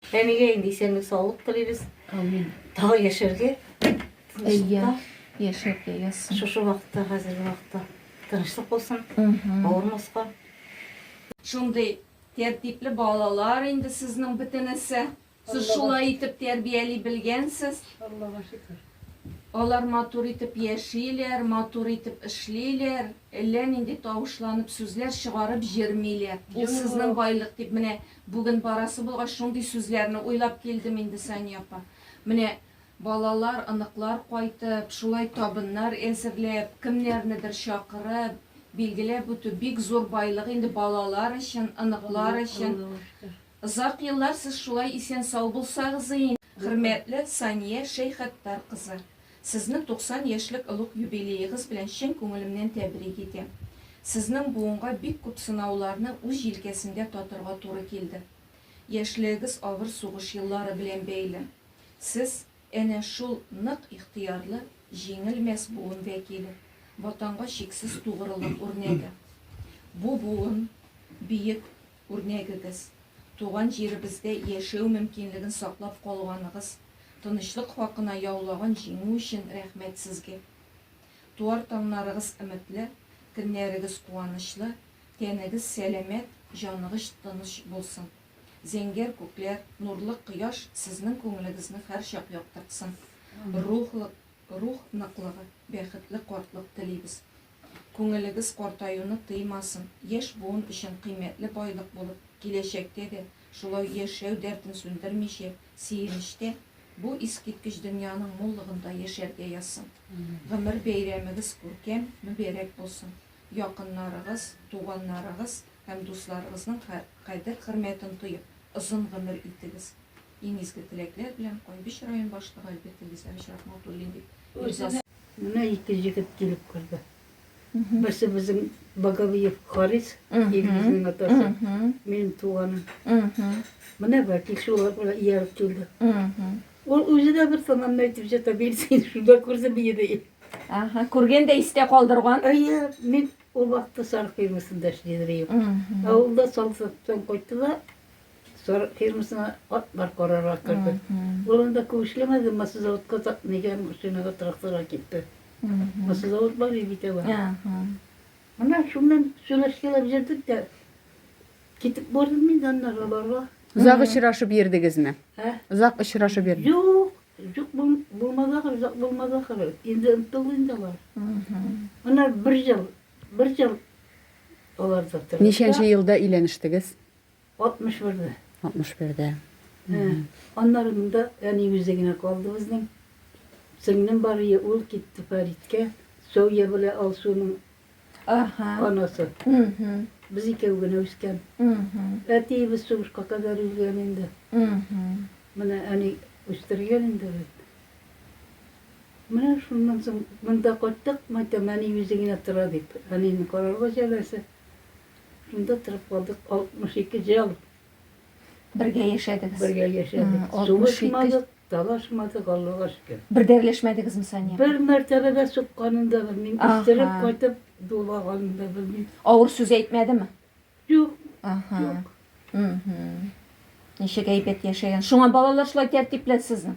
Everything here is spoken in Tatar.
Әнигә инде исәнлек саулык телибез. Амин. Тагы яшәргә. Әйе. Яшәргә язсын. Шушы вакытта, хәзерге вакытта тынычлык булсын. Авырмаска. Шундый тәртипле балалар инде сезнең бөтенесе. Сез шулай итеп тәрбияли белгәнсез. Аллага шөкер. Алар матур итеп яшиләр, матур итеп эшлиләр, әллә нинди тавышланып сүзләр чыгарып җырмыйлар. Ул сезнең байлык дип менә Бүген барасы булгач, шундый сүзләрне уйлап килдем инде, Сания апа. Менә балалар, оныклар кайтып, шулай табыннар әзерләп, кемнәрнедер чакырып, билгеләп үтү бик зур байлык инде балалар өчен, оныклар өчен. Озак еллар сез шулай исән-сау булсагыз иде. Хөрмәтле Сания Шәйхаттар кызы! Сезне 90 яшьлек олуг юбилеегыз белән чын күңелемнән тәбрик итәм. Сезнең буынга бик күп сынауларны үз җилкәсендә татырга туры килде. Яшьлегегез авыр сугыш еллары белән бәйле. Сез, әнә шул нык ихтыярлы, җиңелмәс буын вәкиле, Ватанга чиксез тугрылык үрнәге. Бу буын, биек, Үрнәгегез, туган җиребездә яшәү мөмкинлеген саклап калганыгыз, тынычлык хакына яулаган җиңү өчен рәхмәт сезгә. Туар таңнарыгыз өметле, көннәрегез куанычлы, тәнегез сәламәт, җаныгыч тыныч булсын. Зәңгәр күкләр, нурлы кояш сезнең күңелегезне һәрчак яктыртсын. Рухлык, рух ныклыгы, бәхетле картлык телибез. Күңелегез картаюны тыймасын, яшь буын өчен кыйммәтле байлык булып, киләчәктә дә, шулай яшәү дәртен сүндермичә, сөенечтә, бу искиткеч дөньяның муллыгында яшәргә язсын. Гомер бәйрәмегез күркәм, мөбәрәк булсын. Якыннарыгыз, туганнарыгыз һәм дусларыгызның кадер-хөрмәтен тоеп, озын гомер итегез. Иң изге теләкләр белән Кайбыч район башлыгы Альберт Илгизәвич Рахматуллин дип имзасын Менә ике җегет килеп керде. Берсе безнең Боговиев Харис, Илгизнең атасы, минем туганым. Менә Вәкил шулар белән ияреп килде. Ул үзе дә бер томанны әйтеп җата, мин сине шунда күрдем иде. Ага, күргән дә истә калдырган. Әйе, мин ул вакытта Сарыкоймасында эшли идем. Ә ул да Салсыптан кайтты да, Сарык фирмасына атлар карарга керде. Ул анда күп эшләмәде, маслозаводка нигә машинага тракторга китте. Маслозавод бар бит ала. Ана шуннан сөйләшкәләп җирдек тә китеп бардым мин аннан аларга. Озак очрашып йөрдегезме? Озак очрашып йөрдегез? Юк, Юк булмады ахыр, озак булмады ахыр. Инде онытылды инде алар. Ана бер ел, бер ел алар да тора. Ничәнче елда өйләнештегез? 61-дә. 61-дә. Аннары монда әни үзе генә калды безнең. Сеңлем бар ие, ул китте Фәриткә. Сәүя белә Алсуның анасы. Без икәү генә үскән. Әтиебез сугышка кадәр үлгән инде. Менә әни үстергән инде бит. Менә шуннан соң монда кайттык, мәйтәм, әни үзе генә тора дип. Әнине карарга җәбәсе. Шунда торакладык, 62 ел. Бергә яшәдегез. Бергә яшәдек. М, 62. Сугышмадык, талашмадык, Аллага шөкер. Бер дә эрләшмәдегезме Сания? Бер мәртәбә дә сукканын да белмим, Аха. истереп кайтып дулаганын да белмим. Авыр сүз әйтмәдеме? Юк, Аха. Юк. Мгм. Ничек әйбәт яшәгән. Шуңа балалар шулай тәртипле сезнең.